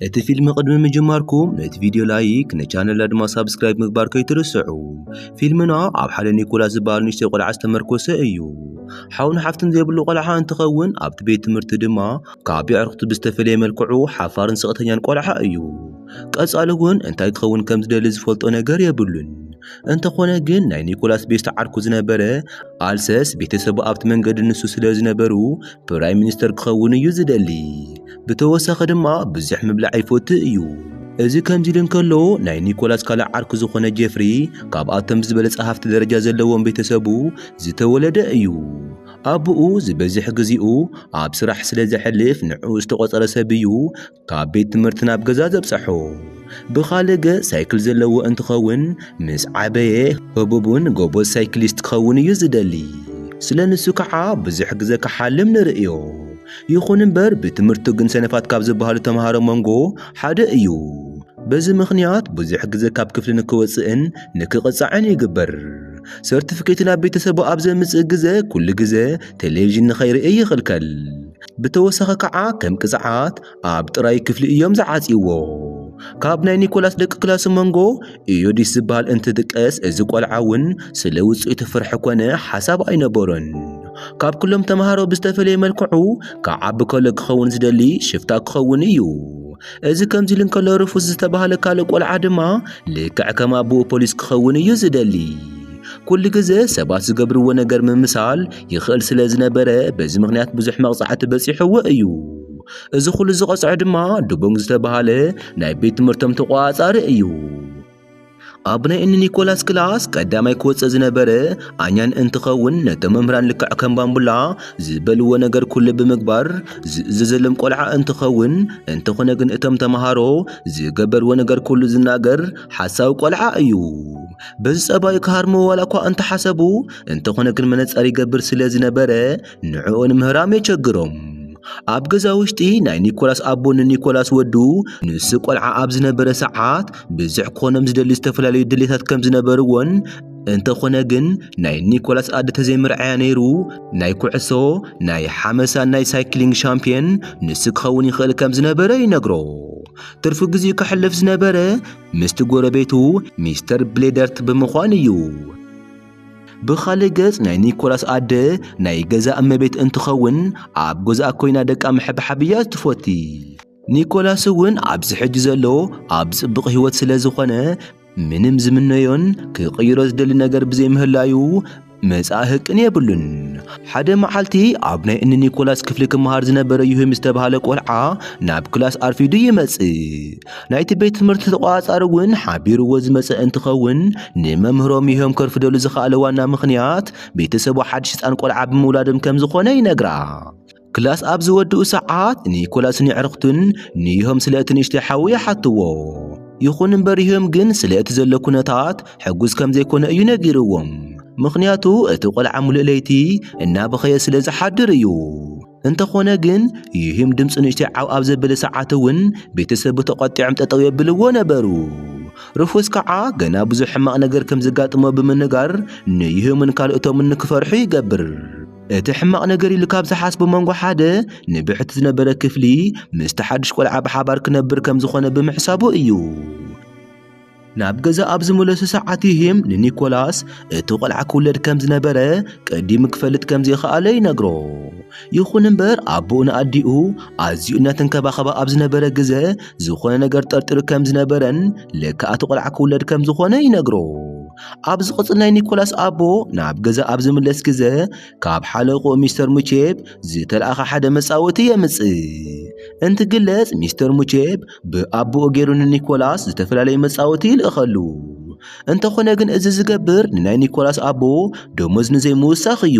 እቲ ፊልም ቅድሚ ምጅማርኩም ነቲ ቪድዮ ላይክ ንቻነልና ድማ ሳብስክራይብ ምግባር ከይትርስዑ። ፊልምና ኣብ ሓደ ኒኮላስ ዝበሃል ንእሽተይ ቆልዓ ዝተመርኮሰ እዩ። ሓውን ሓፍትን ዘይብሉ ቆልዓ እንትኸውን ኣብቲ ቤት ትምህርቲ ድማ ካብ የዕርኽቱ ብዝተፈለየ መልክዑ ሓፋርን ስቕተኛን ቆልዓ እዩ። ቀጻሊ እውን እንታይ ክኸውን ከም ዝደሊ ዝፈልጦ ነገር የብሉን። እንተኾነ ግን ናይ ኒኮላስ ቤስት ዓርኩ ዝነበረ ኣልሰስ ቤተሰቡ ኣብቲ መንገዲ ንሱ ስለ ዝነበሩ ፕራይም ሚኒስተር ክኸውን እዩ ዝደሊ። ብተወሳኺ ድማ ብዙሕ ምብላዕ ይፈቱ እዩ። እዚ ከምዚ ኢሉ እንከሎ ናይ ኒኮላስ ካልእ ዓርኩ ዝኾነ ጄፍሪ ካብኣቶም ብዝበለጸ ሃፍቲ ደረጃ ዘለዎም ቤተሰቡ ዝተወለደ እዩ። ኣቡኡ ዝበዝሕ ግዜኡ ኣብ ስራሕ ስለ ዘሕልፍ ንዕኡ ዝተቖጸረ ሰብ እዩ ካብ ቤት ትምህርቲ ናብ ገዛ ዘብጸሖ። ብኻልእ ገጽ ሳይክል ዘለዎ እንትኸውን ምስ ዓበየ ህቡብን ጎበዝ ሳይክሊስት ክኸውን እዩ ዝደሊ። ስለ ንሱ ከዓ ብዙሕ ግዘ ክሓልም ንርእዮ። ይኹን እምበር ብትምህርቱ ግን ሰነፋት ካብ ዝበሃሉ ተምሃሮ መንጎ ሓደ እዩ። በዚ ምኽንያት ብዙሕ ግዘ ካብ ክፍሊ ንክወፅእን ንክቕፃዕን ይግበር። ሰርቲፊኬቱ ናብ ቤተሰቡ ኣብ ዘምፅእ ግዘ ኩሉ ግዘ ቴሌቪዥን ንኸይርእይ ይኽልከል። ብተወሳኺ ከዓ ከም ቅፅዓት ኣብ ጥራይ ክፍሊ እዮም ዝዓጽይዎ። ካብ ናይ ኒኮላስ ደቂ ክላሱ መንጎ ኢዮዲስ ዝበሃል እንትጥቀስ እዚ ቆልዓ እውን ስለ ውጽኢቱ ፍርሒ ኮነ ሓሳብ ኣይነበሮን። ካብ ኩሎም ተምሃሮ ብዝተፈለየ መልክዑ ክዓቢ ከሎ ክኸውን ዝደሊ ሽፍታ ክኸውን እዩ። እዚ ከምዚ ኢሉ እንከሎ ርፉስ ዝተባህለ ካልእ ቆልዓ ድማ ልክዕ ከም ኣቦኡ ፖሊስ ክኸውን እዩ ዝደሊ። ኩሉ ግዘ ሰባት ዝገብርዎ ነገር ምምሳል ይኽእል ስለ ዝነበረ በዚ ምኽንያት ብዙሕ መቕጻዕቲ በጺሕዎ እዩ። እዚ ኹሉ ዝቐጽዐ ድማ ድቡንግ ዝተባህለ ናይ ቤት ትምህርቶም ተቖጻጻሪ እዩ። ኣብ ናይ እኒ ኒኮላስ ክላስ ቀዳማይ ክወፅእ ዝነበረ ኣኛን እንትኸውን ነቶም መምህራን ልክዕ ከም ባምቡላ ዝበልዎ ነገር ኩሉ ብምግባር ዝእዘዘሎም ቆልዓ እንትኸውን እንተኾነ ግን እቶም ተምሃሮ ዝገበርዎ ነገር ኩሉ ዝናገር ሓሳዊ ቆልዓ እዩ። በዚ ጸባዩ ክሃርምዎ ዋላ እኳ እንተሓሰቡ እንተኾነ ግን መነጸር ይገብር ስለ ዝነበረ ንዕኡ ንምህራም የቸግሮም። ኣብ ገዛ ውሽጢ ናይ ኒኮላስ ኣቦ ንኒኮላስ ወዱ ንሱ ቆልዓ ኣብ ዝነበረ ሰዓት ብዙሕ ክኾኖም ዝደሊ ዝተፈላለዩ ድሌታት ከም ዝነበርዎን እንተኾነ ግን ናይ ኒኮላስ ኣደ ተዘይምርዓያ ነይሩ ናይ ኩዕሶ ናይ ሓመሳን ናይ ሳይክሊንግ ሻምፒየን ንሱ ክኸውን ይኽእል ከም ዝነበረ ይነግሮ ትርፊ ግዚኡ ከሕልፍ ዝነበረ ምስቲ ጎረቤቱ ሚስተር ብሌደርት ብምዃን እዩ ብኻልእ ገጽ ናይ ኒኮላስ ኣደ ናይ ገዛ እመቤት እንትኸውን ኣብ ገዛኣ ኮይና ደቃ ምሕብሓብ እያ ትፎቲ። ኒኮላስ እውን ኣብዚ ሕጂ ዘሎ ኣብ ጽብቕ ህይወት ስለ ዝኾነ ምንም ዝምነዮን ክቕይሮ ዝደሊ ነገር ብዘይምህላዩ መጻኢ ህቅን የብሉን። ሓደ መዓልቲ ኣብ ናይ እኒ ኒኮላስ ክፍሊ ክመሃር ዝነበረ ዩህም ዝተባህለ ቆልዓ ናብ ክላስ ኣርፊዱ ይመጽእ። ናይቲ ቤት ትምህርቲ ተቋጻሪ እውን ሓቢርዎ ዝመጸ እንትኸውን ንመምህሮም ይህም ከርፍደሉ ዝኸኣለ ዋና ምኽንያት ቤተሰቡ ሓድሽ ህፃን ቆልዓ ብምውላዶም ከም ዝኾነ ይነግራ። ክላስ ኣብ ዝወድኡ ሰዓት ኒኮላስ ንዕርኽቱን ንይሆም ስለ እቲ ንእሽተይ ሓዉ ይሓትዎ። ይኹን እምበር ይሆም ግን ስለ እቲ ዘሎ ኩነታት ሕጉስ ከም ዘይኮነ እዩ ነጊርዎም። ምኽንያቱ እቲ ቆልዓ ሙሉእ ለይቲ እናበኸየ ስለ ዝሓድር እዩ። እንተኾነ ግን ይህም ድምፂ ንእሽተይ ዓው ኣብ ዘበለ ሰዓት እውን ቤተሰቡ ተቖጢዖም ጠጠው የብልዎ ነበሩ። ሩፉስ ከዓ ገና ብዙሕ ሕማቕ ነገር ከም ዘጋጥሞ ብምንጋር ንይህምን ካልኦቶምን ንክፈርሑ ይገብር። እቲ ሕማቕ ነገር ኢሉ ካብ ዝሓስቦ መንጎ ሓደ ንብሕቲ ዝነበረ ክፍሊ ምስቲ ሓድሽ ቆልዓ ብሓባር ክነብር ከም ዝኾነ ብምሕሳቡ እዩ። ናብ ገዛ ኣብ ዝመለሱ ሰዓት ይህም ንኒኮላስ እቲ ቈልዓ ክውለድ ከም ዝነበረ ቀዲሙ ክፈልጥ ከም ዘይኸኣለ ይነግሮ። ይኹን እምበር ኣቦኡ ንኣዲኡ ኣዝዩ እናተንከባኸባ ኣብ ዝነበረ ግዘ ዝኾነ ነገር ጠርጢሩ ከም ዝነበረን ለካ እቲ ቈልዓ ክውለድ ከም ዝኾነ ይነግሮ። ኣብ ዝቕጽል ናይ ኒኮላስ ኣቦ ናብ ገዛ ኣብ ዝምለስ ግዘ ካብ ሓለቕኡ ሚስተር ሙቼብ ዝተልኣኸ ሓደ መጻወቲ የምጽእ። እንትግለጽ ሚስተር ሙቼብ ብኣቦኡ ገይሩ ንኒኮላስ ዝተፈላለዩ መጻወቲ ይልእኸሉ። እንተኾነ ግን እዚ ዝገብር ንናይ ኒኮላስ ኣቦ ደሞዝ ንዘይምውሳኽ እዩ።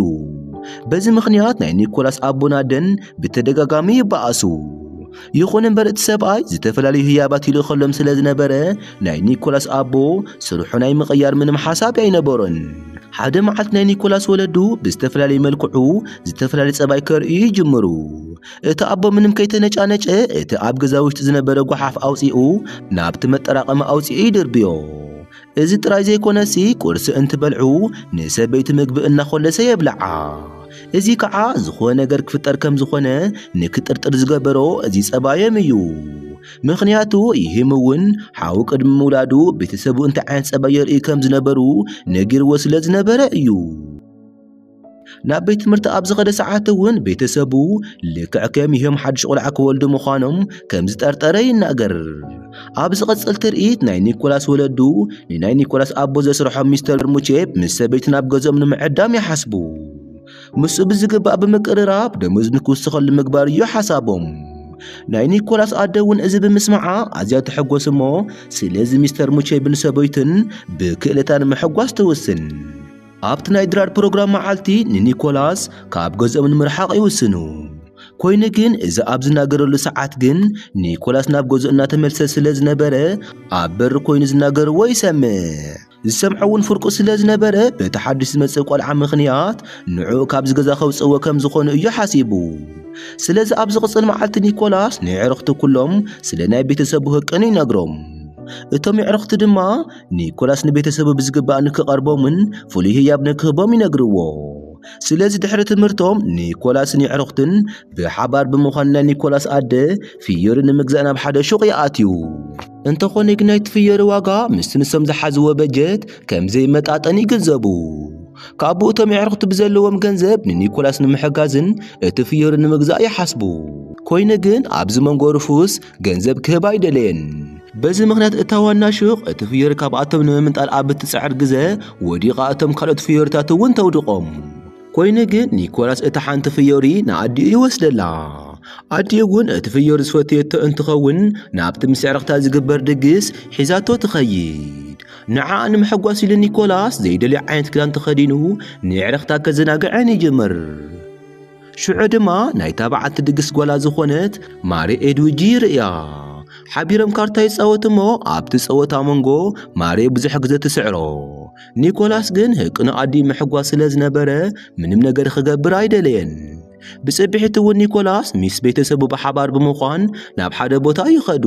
በዚ ምኽንያት ናይ ኒኮላስ ኣቦን ኣደን ብተደጋጋሚ ይበኣሱ። ይኹን እምበር እቲ ሰብኣይ ዝተፈላለዩ ህያባት ይልእኸሎም ስለ ዝነበረ ናይ ኒኮላስ ኣቦ ስርሑ ናይ ምቕያር ምንም ሓሳብ ኣይነበሮን። ሓደ መዓልቲ ናይ ኒኮላስ ወለዱ ብዝተፈላለየ መልክዑ ዝተፈላለየ ጸባይ ከርእዩ ይጅምሩ። እቲ ኣቦ ምንም ከይተነጫነጨ እቲ ኣብ ገዛ ውሽጢ ዝነበረ ጓሓፍ ኣውፂኡ ናብቲ መጠራቐሚ ኣውፂኡ ይድርብዮ። እዚ ጥራይ ዘይኮነሲ ቁርሲ እንትበልዑ ንሰበይቲ ምግቢ እናኾለሰ የብልዓ። እዚ ከዓ ዝኾነ ነገር ክፍጠር ከም ዝኾነ ንክጥርጥር ዝገበሮ እዚ ጸባዮም እዩ። ምኽንያቱ ይህም እውን ሓው ቅድሚ ምውላዱ ቤተሰቡ እንታይ ዓይነት ጸባይ የርእዩ ከም ዝነበሩ ነጊርዎ ስለ ዝነበረ እዩ። ናብ ቤት ትምህርቲ ኣብ ዝኸደ ሰዓት እውን ቤተሰቡ ልክዕ ከም ይህም ሓድሽ ቁልዓ ክወልዱ ምዃኖም ከም ዝጠርጠረ ይናገር ኣብ ዝቐጽል ትርኢት ናይ ኒኮላስ ወለዱ ንናይ ኒኮላስ ኣቦ ዘስርሖም ሚስተር ሙቼፕ ምስ ሰበይቲ ናብ ገዞም ንምዕዳም ይሓስቡ ምስኡ ብዝግባእ ብምቅርራብ ደሞዝ ንክውስኸሉ ምግባር እዩ ሓሳቦም ናይ ኒኮላስ ኣደ እውን እዚ ብምስማዓ ኣዝያ ተሐጎስ እሞ ስለዚ ሚስተር ሙቼብን ሰበይቱን ብክእለታ ንምሕጓስ ትውስን ኣብቲ ናይ ድራር ፕሮግራም መዓልቲ ንኒኮላስ ካብ ገዝኦም ንምርሓቕ ይውስኑ። ኮይኑ ግን እዚ ኣብ ዝናገረሉ ሰዓት ግን ኒኮላስ ናብ ገዝኡ እናተመልሰ ስለ ዝነበረ ኣብ በሪ ኮይኑ ዝናገርዎ ይሰምዕ። ዝሰምዖ እውን ፍርቁ ስለ ዝነበረ በቲ ሓድሽ ዝመጽእ ቆልዓ ምኽንያት ንዕኡ ካብዚ ገዛ ከውጽእዎ ከም ዝኾኑ እዩ ሓሲቡ። ስለዚ ኣብ ዝቕጽል መዓልቲ ኒኮላስ ንየዕርኽቱ ኩሎም ስለ ናይ ቤተሰቡ ህቅኑ ይነግሮም። እቶም የዕርኽቱ ድማ ኒኮላስ ንቤተሰቡ ብዝግባእ ንክቐርቦምን ፍሉይ ህያብ ንክህቦም ይነግርዎ። ስለዚ ድሕሪ ትምህርቶም ኒኮላስን የዕሩኽትን ብሓባር ብምዃን ናይ ኒኮላስ ኣደ ፍዮሪ ንምግዛእ ናብ ሓደ ሹቕ ይኣትዩ። እንተኾነ ግን ናይቲ ፍዮሪ ዋጋ ምስቲ ንሶም ዝሓዝዎ በጀት ከም ዘይመጣጠን ይግንዘቡ። ካብኡ እቶም የዕሩኽቲ ብዘለዎም ገንዘብ ንኒኮላስ ንምሕጋዝን እቲ ፍዮሪ ንምግዛእ ይሓስቡ። ኮይኑ ግን ኣብዚ መንጎ ሩፉስ ገንዘብ ክህባ ኣይደለየን። በዚ ምኽንያት እታ ዋና ሹቕ እቲ ፍዮሪ ካብኣቶም ንምምንጣል ኣብ እትጽዕር ግዘ ወዲቓ እቶም ካልኦት ፍዮሪታት እውን ተውድቖም። ኮይኑ ግን ኒኮላስ እታ ሓንቲ ፍዮሪ ንኣዲኡ ይወስደላ። ኣዲኡ እውን እቲ ፍዮሪ ዝፈተየቶ እንትኸውን ናብቲ ምስ ዕርኽታ ዝግበር ድግስ ሒዛቶ ትኸይድ። ንዓኣ ንምሕጓስ ኢሉ ኒኮላስ ዘይደልዮ ዓይነት ክዳን ተኸዲኑ ንዕርኽታ ከዘናግዐን ይጅምር። ሽዑ ድማ ናይታ በዓልቲ ድግስ ጓላ ዝኾነት ማሬ ኤድዊጂ ይርእያ። ሓቢሮም ካርታ ይጻወቱ እሞ ኣብቲ ጸወታ መንጎ ማሬ ብዙሕ ግዜ ትስዕሮ። ኒኮላስ ግን ህቅኑ ኣዲኡ ምሕጓስ ስለ ዝነበረ ምንም ነገር ክገብር ኣይደለየን። ብጽብሒት እውን ኒኮላስ ምስ ቤተሰቡ ብሓባር ብምዃን ናብ ሓደ ቦታ ይኸዱ።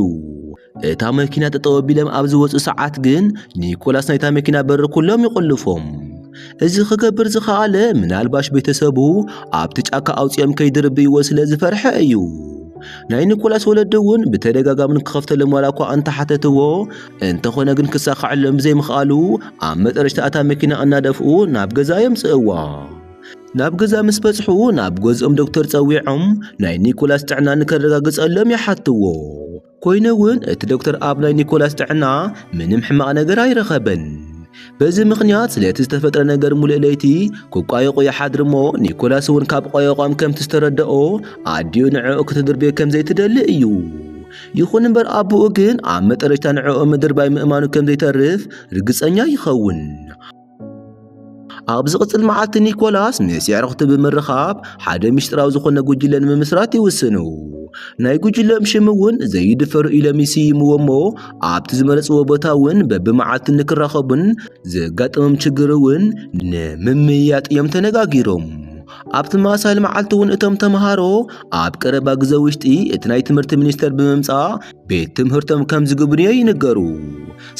እታ መኪና ጠጠው ኣቢሎም ኣብ ዝወፁ ሰዓት ግን ኒኮላስ ናይታ መኪና በሪ ኩሎም ይቆልፎም። እዚ ክገብር ዝኸኣለ ምናልባሽ ቤተሰቡ ኣብቲ ጫካ ኣውፂኦም ከይድርብይዎ ስለ ዝፈርሐ እዩ። ናይ ኒኮላስ ወለዲ እውን ብተደጋጋሚ ንክኸፍተሎም ዋላ እኳ እንተሓተትዎ እንተኾነ ግን ክሳኸዐሎም ብዘይምኽኣሉ ኣብ መጠረሽታ እታ መኪና እናደፍኡ ናብ ገዛ የምፅእዋ። ናብ ገዛ ምስ በጽሑ ናብ ገዝኦም ዶክተር ጸዊዖም ናይ ኒኮላስ ጥዕና ንከረጋግጸሎም ይሓትዎ። ኮይኑ እውን እቲ ዶክተር ኣብ ናይ ኒኮላስ ጥዕና ምንም ሕማቕ ነገር ኣይረኸበን። በዚ ምኽንያት ስለቲ ዝተፈጥረ ነገር ሙሉእ ለይቲ ክቋየቑ ይሓድር እሞ ኒኮላስ እውን ካብ ቋየቋም ከምቲ ዝተረድኦ ኣዲኡ ንዕኡ ክትድርብዮ ከም ዘይትደሊ እዩ። ይኹን እምበር ኣቦኡ ግን ኣብ መጠረሽታ ንዕኡ ምድርባይ ምእማኑ ከም ዘይተርፍ ርግጸኛ ይኸውን። ኣብ ዝቕጽል መዓልቲ ኒኮላስ ምስ የዕርኽቱ ብምርኻብ ሓደ ምስጢራዊ ዝኾነ ጉጅለ ንምምስራት ይውስኑ። ናይ ጉጅለኦም ሽም እውን ዘይድፈሩ ኢሎም ይስይምዎ እሞ ኣብቲ ዝመረጽዎ ቦታ እውን በብመዓልቱ ንክራኸቡን ዘጋጠሞም ችግር እውን ንምምይያጥ እዮም ተነጋጊሮም። ኣብ ተመሳሳሊ መዓልቲ እውን እቶም ተምሃሮ ኣብ ቀረባ ግዘ ውሽጢ እቲ ናይ ትምህርቲ ሚኒስቴር ብምምጻእ ቤት ትምህርቶም ከም ዝግብንዮ ይንገሩ።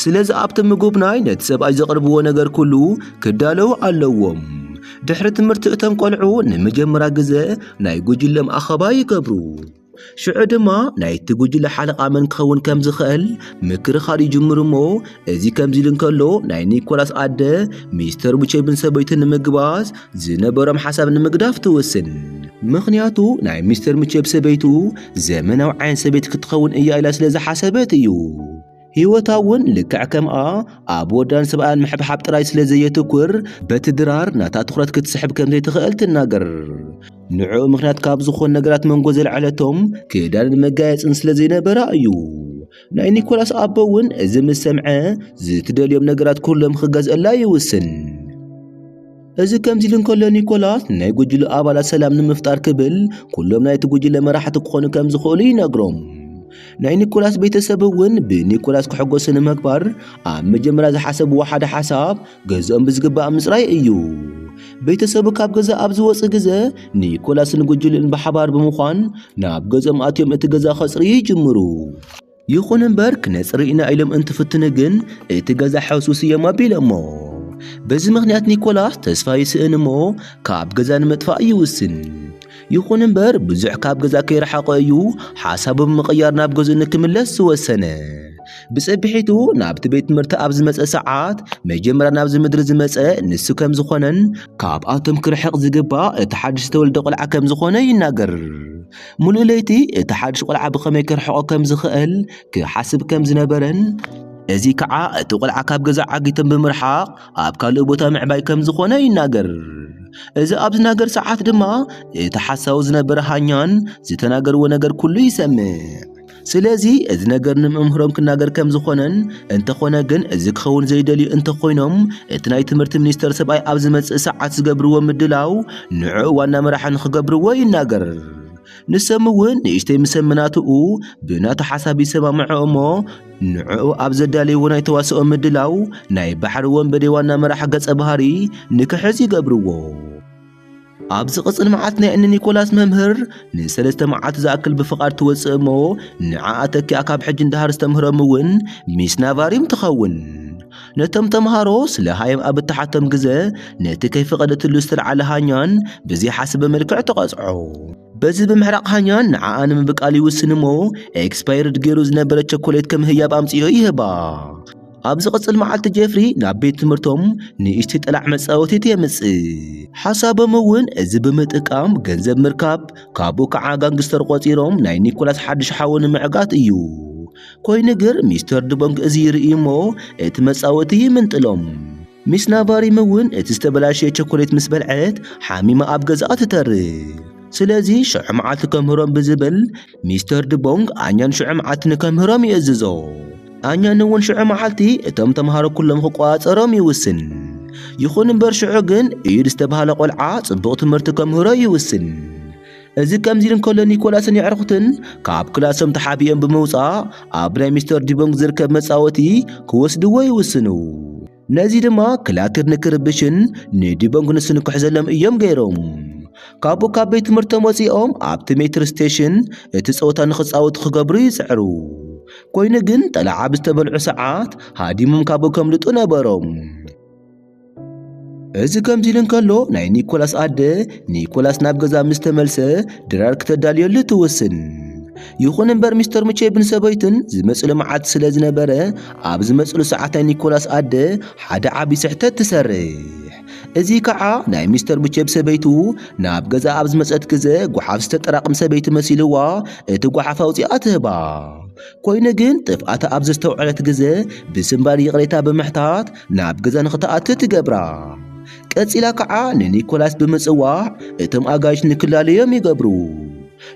ስለዚ ኣብቲ ምጉብናይ ነቲ ሰብኣይ ዘቕርብዎ ነገር ኩሉ ክዳለዉ ኣለዎም። ድሕሪ ትምህርቲ እቶም ቆልዑ ንመጀመርያ ግዘ ናይ ጉጅሎም ኣኸባ ይገብሩ። ሽዑ ድማ ናይቲ ጉጅለ ሓለቓ መን ክኸውን ከም ዝኽእል ምክርኻር ይጅምሩ እሞ እዚ ከምዚ ኢሉ እንከሎ ናይ ኒኮላስ ኣደ ሚስተር ቡቼብን ሰበይቱ ንምግባዝ ዝነበሮም ሓሳብ ንምግዳፍ ትውስን። ምኽንያቱ ናይ ሚስተር ሙቼብ ሰበይቱ ዘመናዊ ዓይነት ሰበይቲ ክትኸውን እያ ኢላ ስለ ዝሓሰበት እዩ። ህይወታ እውን ልክዕ ከምኣ ኣብ ወዳን ስብኣያን ምሕብሓብ ጥራይ ስለ ዘየትኩር በቲ ድራር ናታ ትኹረት ክትስሕብ ከም ዘይትኽእል ትናገር። ንዕኡ ምኽንያት ካብ ዝኾኑ ነገራት መንጎ ዘልዐለቶም ክዳንን መጋየጽን ስለ ዘይነበራ እዩ። ናይ ኒኮላስ ኣቦ እውን እዚ ምስ ሰምዐ ዝትደልዮም ነገራት ኩሎም ክገዝእላ ይውስን። እዚ ከምዚ ኢሉ እንከሎ ኒኮላስ ንናይ ጉጅሉ ኣባላት ሰላም ንምፍጣር ክብል ኩሎም ናይቲ ጉጅለ መራሕቲ ክኾኑ ከም ዝኽእሉ ይነግሮም። ናይ ኒኮላስ ቤተሰብ እውን ብኒኮላስ ክሕጎሱ ንምግባር ኣብ መጀመርያ ዝሓሰብዎ ሓደ ሓሳብ ገዝኦም ብዝግባእ ምጽራይ እዩ። ቤተሰቡ ካብ ገዛ ኣብ ዝወጽእ ግዘ ኒኮላስን ጉጅልኡን ብሓባር ብምዃን ናብ ገዝኦም ኣትዮም እቲ ገዛ ከጽርዩ ይጅምሩ። ይኹን እምበር ክነጽሪ ኢና ኢሎም እንትፍትኑ ግን እቲ ገዛ ሕሱስ እዮም ኣቢሎሞ። በዚ ምኽንያት ኒኮላስ ተስፋ ይስእን እሞ ካብ ገዛ ንምጥፋእ ይውስን። ይኹን እምበር ብዙሕ ካብ ገዛ ከይረሓቐ እዩ ሓሳቡ ብምቕያር ናብ ገዝኡ ንክምለስ ዝወሰነ። ብጸብሒቱ ናብቲ ቤት ትምህርቲ ኣብ ዝመጸ ሰዓት መጀመርያ ናብዚ ምድሪ ዝመጸ ንሱ ከም ዝኾነን ካብኣቶም ክርሕቕ ዝግባእ እቲ ሓድሽ ዝተወልደ ቆልዓ ከም ዝኾነ ይናገር። ሙሉእ ለይቲ እቲ ሓድሽ ቈልዓ ብኸመይ ክርሕቖ ከም ዝኽእል ክሓስብ ከም ዝነበረን፣ እዚ ከኣ እቲ ቆልዓ ካብ ገዛ ዓጊቶም ብምርሓቕ ኣብ ካልእ ቦታ ምዕባይ ከም ዝኾነ ይናገር። እዚ ኣብ ዝናገር ሰዓት ድማ እቲ ሓሳዊ ዝነበረ ሃኛን ዝተናገርዎ ነገር ኩሉ ይሰምዕ። ስለዚ እዚ ነገር ንመምህሮም ክናገር ከም ዝኾነን እንተኾነ ግን እዚ ክኸውን ዘይደልዩ እንተኾይኖም እቲ ናይ ትምህርቲ ሚኒስተር ሰብኣይ ኣብ ዝመጽእ ሰዓት ዝገብርዎ ምድላው ንዕኡ ዋና መራሒ ንኽገብርዎ ይናገር። ንሶም እውን ንእሽተይ ምስ ኣመናትኡ ብናቱ ሓሳብ ይሰማምዑ እሞ ንዕኡ ኣብ ዘዳለይዎ ናይ ተዋስኦ ምድላው ናይ ባሕሪ ወንበዴ ዋና መራሒ ገጸ ባህሪ ንክሕዝ ይገብርዎ። ኣብ ዝቕጽል መዓልቲ ናይ እኒ ኒኮላስ መምህር ንሰለስተ መዓልቲ ዝኣክል ብፍቓድ ትወጽእ እሞ ንዓኣ ተኪኣ ካብ ሕጂ እንድሃር ዝተምህሮም እውን ሚስ ናቫሪም ትኸውን ነቶም ተምሃሮ ስለ ሃየም ኣብ እትሓቶም ግዘ ነቲ ከይፈቐደትሉ ዝተልዓለ ሃኛን ብዘይሓስበ መልክዕ ተቐጽዖ በዚ ብምሕራቕ ሃኛ ንዓኣ ንምብቃል ይውስን እሞ ኤክስፓየርድ ገይሩ ዝነበረ ቸኮሌት ከም ህያብ ኣምጽዮ ይህባ ኣብ ዝቕጽል መዓልቲ ጀፍሪ ናብ ቤት ትምህርቶም ንእሽተይ ጠላዕ መጻወቲት የምጽእ ሓሳቦም እውን እዚ ብምጥቃም ገንዘብ ምርካብ ካብኡ ከዓ ጋንግስተር ቆጺሮም ናይ ኒኮላስ ሓድሽ ሓወ ንምዕጋት እዩ ኮይኑ ግር ሚስተር ድቦንግ እዚ ይርኢ እሞ እቲ መጻወቲ ይምንጥሎም ሚስ ናቫሪም እውን እቲ ዝተበላሸየ ቸኮሌት ምስ በልዐት ሓሚማ ኣብ ገዛኣ ትተርፍ። ስለዚ ሽዑ መዓልቲ ከምህሮም ብዝብል ሚስተር ድቦንግ ኣኛን ሽዑ መዓልቲ ንከምህሮም ይእዝዞ። ኣኛን እውን ሽዑ መዓልቲ እቶም ተምሃሮ ኩሎም ክቆጻጸሮም ይውስን። ይኹን እምበር ሽዑ ግን ኢዩድ ዝተባህለ ቆልዓ ጽቡቕ ትምህርቲ ከምህሮ ይውስን። እዚ ከምዚ ኢሉ እንከሎ ኒኮላስን የዕርኹትን ካብ ክላሶም ተሓቢኦም ብምውጻእ ኣብ ናይ ሚስተር ዲቦንግ ዝርከብ መጻወቲ ክወስድዎ ይውስኑ። ነዚ ድማ ክላክር ንክርብሽን ንዲቦንግ ንሱ ንክሕዘሎም እዮም ገይሮም። ካብኡ ካብ ቤት ትምህርቶም ወጺኦም ኣብቲ ሜትር ስቴሽን እቲ ጸወታ ንክጻወቱ ክገብሩ ይጽዕሩ። ኮይኑ ግን ጠላዓ ብዝተበልዑ ሰዓት ሃዲሞም ካብኡ ከምልጡ ነበሮም። እዚ ከምዚ ኢሉ እንከሎ ናይ ኒኮላስ ኣደ ኒኮላስ ናብ ገዛ ምስ ተመልሰ ድራር ክተዳልየሉ ትውስን። ይኹን እምበር ሚስተር ሙቼብን ሰበይቱን ዝመጽሉ መዓልቲ ስለ ዝነበረ ኣብ ዝመጽሉ ሰዓት ናይ ኒኮላስ ኣደ ሓደ ዓቢ ስሕተት ትሰርሕ። እዚ ከዓ ናይ ሚስተር ሙቼብ ሰበይቱ ናብ ገዛ ኣብ ዝመጸት ግዘ ጓሓፍ ዝተጠራቕም ሰበይቲ መሲልዋ እቲ ጓሓፍ ኣውጺኣ ትህባ። ኮይኑ ግን ጥፍኣታ ኣብ ዘስተውዐለት ግዘ ብስምባል ይቕሬታ ብምሕታት ናብ ገዛ ንኽትኣቱ ትገብራ። ቀጺላ ከዓ ንኒኮላስ ብምጽዋዕ እቶም ኣጋይሽ ንክላለዮም ይገብሩ።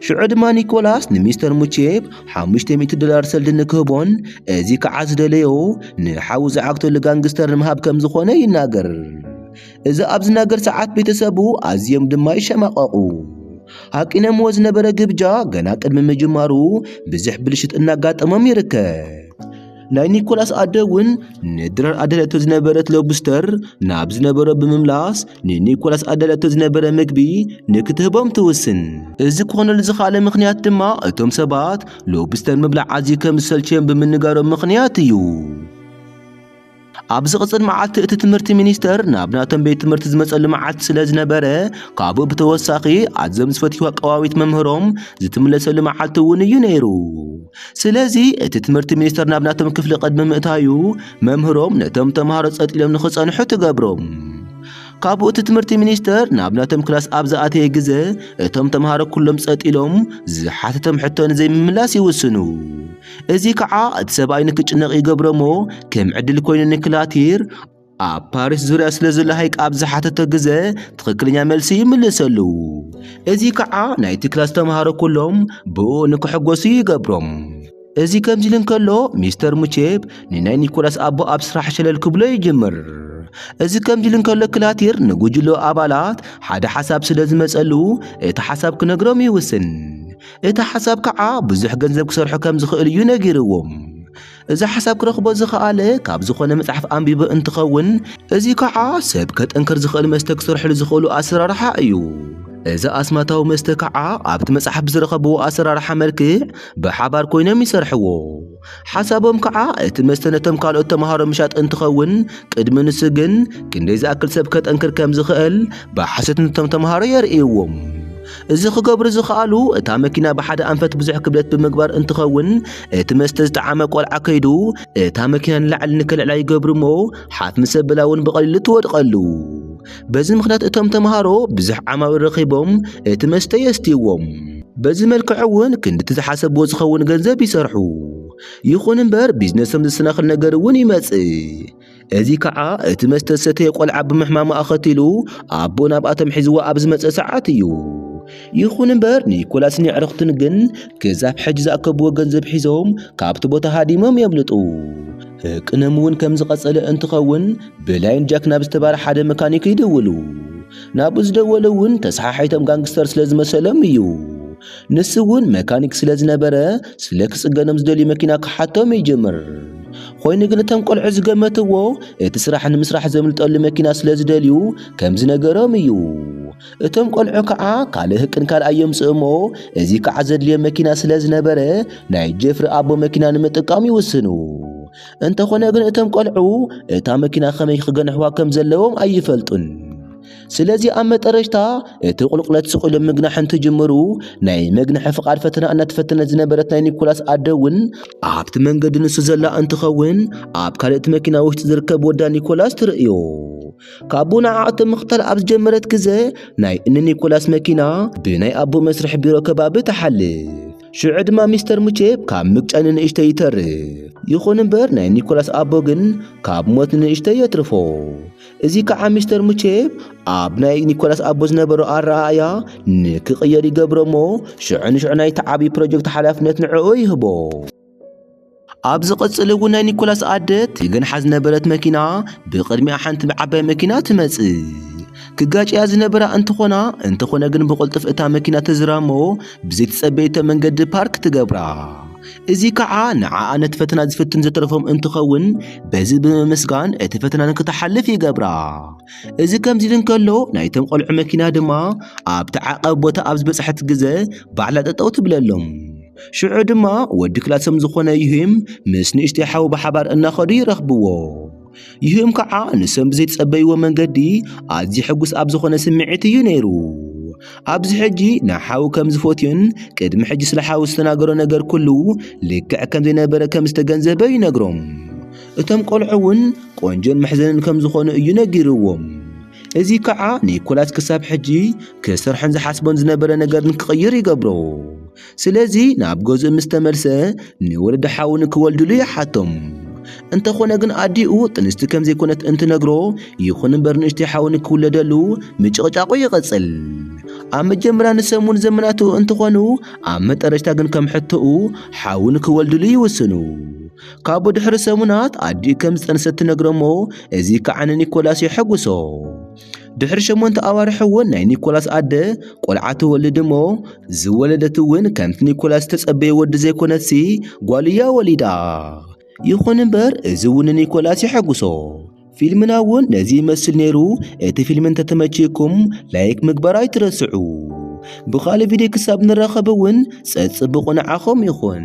ሽዑ ድማ ኒኮላስ ንሚስተር ሙቼብ ሓሙሽተ ሚእቲ ዶላር ሰልዲ ንክህቦን እዚ ከዓ ዝደለዮ ንሓዉ ዝዓግተሉ ጋንግስተር ንምሃብ ከም ዝኾነ ይናገር። እዚ ኣብ ዝናገር ሰዓት ቤተሰቡ ኣዝዮም ድማ ይሸማቐቑ። ሃቂነምዎ ዝነበረ ግብጃ ገና ቅድሚ ምጅማሩ ብዙሕ ብልሽት እናጋጠሞም ይርከብ። ናይ ኒኮላስ ኣደ እውን ንድራር ኣደለቶ ዝነበረት ሎብስተር ናብ ዝነበሮ ብምምላስ ንኒኮላስ ኣደለቶ ዝነበረ ምግቢ ንክትህቦም ትውስን እዚ ክኾነሉ ዝኸኣለ ምኽንያት ድማ እቶም ሰባት ሎብስተር ምብላዕ ኣዝዩ ከም ዝሰልችዮም ብምንጋሮም ምኽንያት እዩ ኣብ ዝቕጽል መዓልቲ እቲ ትምህርቲ ሚኒስተር ናብ ናቶም ቤት ትምህርቲ ዝመጸሉ መዓልቲ ስለ ዝነበረ ካብኡ ብተወሳኺ ኣዝዮም ዝፈትይዋ ቀዋዊት መምህሮም ዝትምለሰሉ መዓልቲ እውን እዩ ነይሩ ስለዚ እቲ ትምህርቲ ሚኒስተር ናብ ናቶም ክፍሊ ቅድሚ ምእታዩ መምህሮም ነቶም ተምሃሮ ጸጥ ኢሎም ንኽጸንሑ ትገብሮም ካብኡ እቲ ትምህርቲ ሚኒስተር ናብ ናቶም ክላስ ኣብ ዝኣተየ ግዘ እቶም ተምሃሮ ኩሎም ጸጥ ኢሎም ዝሓተቶም ሕቶ ንዘይምምላስ ይውስኑ እዚ ከዓ እቲ ሰብኣይ ንክጭነቕ ይገብሮሞ ከም ዕድል ኮይኑ ንክላቲር ኣብ ፓሪስ ዙርያ ስለ ዘሎ ሃይቅ ኣብ ዝሓተቶ ግዘ ትኽክለኛ መልሲ ይምልሰሉ። እዚ ከዓ ናይቲ ክላስ ተምሃሮ ኩሎም ብኡ ንክሕጎሱ ይገብሮም። እዚ ከምዚ ኢሉ እንከሎ ሚስተር ሙቼፕ ንናይ ኒኮላስ ኣቦ ኣብ ስራሕ ሸለል ክብሎ ይጅምር። እዚ ከምዚ ኢሉ እንከሎ ክላቲር ንጉጅሎ ኣባላት ሓደ ሓሳብ ስለ ዝመጸሉ እቲ ሓሳብ ክነግሮም ይውስን። እቲ ሓሳብ ከዓ ብዙሕ ገንዘብ ክሰርሑ ከም ዝኽእሉ እዩ ነጊርዎም። እዚ ሓሳብ ክረኽቦ ዝኸኣለ ካብ ዝኾነ መጽሓፍ ኣንቢቡ እንትኸውን እዚ ከዓ ሰብ ከጠንክር ዝኽእል መስተ ክሰርሕሉ ዝኽእሉ ኣሰራርሓ እዩ። እዚ ኣስማታዊ መስተ ከዓ ኣብቲ መጽሓፍ ብዝረኸብዎ ኣሰራርሓ መልክዕ ብሓባር ኮይኖም ይሰርሕዎ። ሓሳቦም ከዓ እቲ መስተ ነቶም ካልኦት ተምሃሮ ምሻጥ እንትኸውን ቅድሚ ንሱ ግን ክንደይ ዝኣክል ሰብ ከጠንክር ከም ዝኽእል ብሓሶት ነቶም ተምሃሮ የርእይዎም። እዚ ክገብሩ ዝኸኣሉ እታ መኪና ብሓደ ኣንፈት ብዙሕ ክብደት ብምግባር እንትኸውን እቲ መስተ ዝጠዓመ ቆልዓ ከይዱ እታ መኪና ንላዕሊ ንከልዕላ ይገብሩ እሞ ሓፍ ምስ ኣበላ እውን ብቐሊሉ ትወድቐሉ። በዚ ምኽንያት እቶም ተምሃሮ ብዙሕ ዓማዊል ረኺቦም እቲ መስተ የስትይዎም። በዚ መልክዕ እውን ክንድቲ ዝሓሰብዎ ዝኸውን ገንዘብ ይሰርሑ። ይኹን እምበር ቢዝነሶም ዝሰናኽል ነገር እውን ይመጽእ። እዚ ከዓ እቲ መስተ ዝሰተየ ቆልዓ ብምሕማሙ ኣኸቲሉ ኣቦ ናብኣቶም ሒዝዎ ኣብ ዝመጸ ሰዓት እዩ። ይኹን እምበር ኒኮላስን የዕርኽቱን ግን ክሳብ ሕጂ ዝኣከብዎ ገንዘብ ሒዞም ካብቲ ቦታ ሃዲሞም የምልጡ። ህቅኖም እውን ከም ዝቐጸለ እንትኸውን ብላይን ጃክ ናብ ዝተባረ ሓደ መካኒክ ይድውሉ። ናብኡ ዝደወለ እውን ተሰሓሒቶም ጋንግስተር ስለ ዝመሰሎም እዩ። ንሱ እውን መካኒክ ስለ ዝነበረ ስለ ክጽገኖም ዝደልዩ መኪና ክሓቶም ይጅምር። ኾይኑ ግን እቶም ቆልዑ ዝገመትዎ እቲ ስራሕ ንምስራሕ ዘምልጠሉ መኪና ስለ ዝደልዩ ከም ዝነገሮም እዩ። እቶም ቆልዑ ከዓ ካልእ ህቅን ካልእ ኣየምጽእ እሞ እዚ ከዓ ዘድልዮም መኪና ስለ ዝነበረ ናይ ጀፍሪ ኣቦ መኪና ንምጥቃም ይውስኑ። እንተኾነ ግን እቶም ቆልዑ እታ መኪና ከመይ ክገንሕዋ ከም ዘለዎም ኣይፈልጡን። ስለዚ ኣብ መጠረሽታ እቲ ቁልቁለት ስቕኢሎም ምግናሕ እንትጅምሩ ናይ መግንሒ ፍቓድ ፈተና እናተፈተነት ዝነበረት ናይ ኒኮላስ ኣደ እውን ኣብቲ መንገዲ ንሱ ዘላ እንትኸውን ኣብ ካልእቲ መኪና ውሽጢ ዝርከብ ወዳ ኒኮላስ ትርእዮ ካብኡ ንዓዕቶ ምኽታል ኣብ ዝጀመረት ግዘ ናይ እኒ ኒኮላስ መኪና ብናይ ኣቦ መስርሒ ቢሮ ከባቢ ትሓልፍ ሽዑ ድማ ሚስተር ሙቼፕ ካብ ምግጫይ ንንእሽተ ይተርፍ ይኹን እምበር ናይ ኒኮላስ ኣቦ ግን ካብ ሞት ንንእሽተ የትርፎ እዚ ከዓ ሚስተር ሙቼ ኣብ ናይ ኒኮላስ ኣቦ ዝነበሮ ኣረኣእያ ንክቕየር ይገብሮ እሞ ሽዑ ንሽዑ ናይቲ ዓብዪ ፕሮጀክት ሓላፍነት ንዕኡ ይህቦ። ኣብ ዝቕጽል እውን ናይ ኒኮላስ ኣደ ትገንሓ ዝነበረት መኪና ብቕድሚኣ ሓንቲ ዓባይ መኪና ትመጽእ። ክጋጭያ ዝነበራ እንትኾና እንተኾነ ግን ብቕልጡፍ እታ መኪና ተዝራ እሞ ብዘይተጸበየቶ መንገዲ ፓርክ ትገብራ። እዚ ከዓ ንዓኣ ነቲ ፈተና ዝፍትን ዘተረፎም እንትኸውን በዚ ብምምስጋን እቲ ፈተና ንክትሓልፍ ይገብራ። እዚ ከምዚ ኢሉ እንከሎ ናይቶም ቆልዑ መኪና ድማ ኣብቲ ዓቐብ ቦታ ኣብ ዝበጽሐት ግዘ ባዕላ ጠጠው ትብለሎም። ሽዑ ድማ ወዲ ክላሶም ዝኾነ ዩሂም ምስ ንእሽተይ ሓው ብሓባር እናኸዱ ይረኽብዎ። ይህም ከዓ ንሶም ብዘይተጸበይዎ መንገዲ ኣዝዩ ሕጉስ ኣብ ዝኾነ ስምዒት እዩ ነይሩ። ኣብዚ ሕጂ ንሓው ከም ዝፈትዮን ቅድሚ ሕጂ ስለ ሓው ዝተናገሮ ነገር ኩሉ ልክዕ ከም ዘይነበረ ከም ዝተገንዘበ ይነግሮም። እቶም ቆልዑ እውን ቆንጆን መሕዘንን ከም ዝኾኑ እዩ ነጊርዎም። እዚ ከዓ ኒኮላስ ክሳብ ሕጂ ክሰርሖን ዝሓስቦን ዝነበረ ነገር ንክቕይር ይገብሮ። ስለዚ ናብ ገዝኡ ምስ ተመልሰ ንወለዲ ሓው ንክወልድሉ ይሓቶም። እንተኾነ ግን ኣዲኡ ጥንስቲ ከም ዘይኮነት እንትነግሮ ይኹን እምበር ንእሽተይ ሓው ንክውለደሉ ምጭቕጫቑ ይቕጽል። ኣብ መጀመርያ ንሰሙን ዘመናቱ እንትኾኑ ኣብ መጠረሽታ ግን ከም ሕቶኡ ሓው ንክወልድሉ ይውስኑ። ካብኡ ድሕሪ ሰሙናት ኣዲኡ ከም ዝጠንሰት ትነግሮሞ እዚ ከዓ ንኒኮላስ የሐጉሶ። ድሕሪ ሸሞንተ ኣዋርሕ እውን ናይ ኒኮላስ ኣደ ቆልዓ ትወልድ እሞ ዝወለደት እውን ከምቲ ኒኮላስ ዝተጸበየ ወዲ ዘይኮነትሲ ጓል እያ ወሊዳ። ይኹን እምበር እዚ እውን ንኒኮላስ የሐጉሶ። ፊልምና እውን ነዚ ይመስል ነይሩ። እቲ ፊልም እንተተመችይኩም ላይክ ምግባር ኣይትረስዑ። ብኻልእ ቪድዮ ክሳብ ንራኸብ እውን ጸጽብቑ ንዓኹም ይኹን።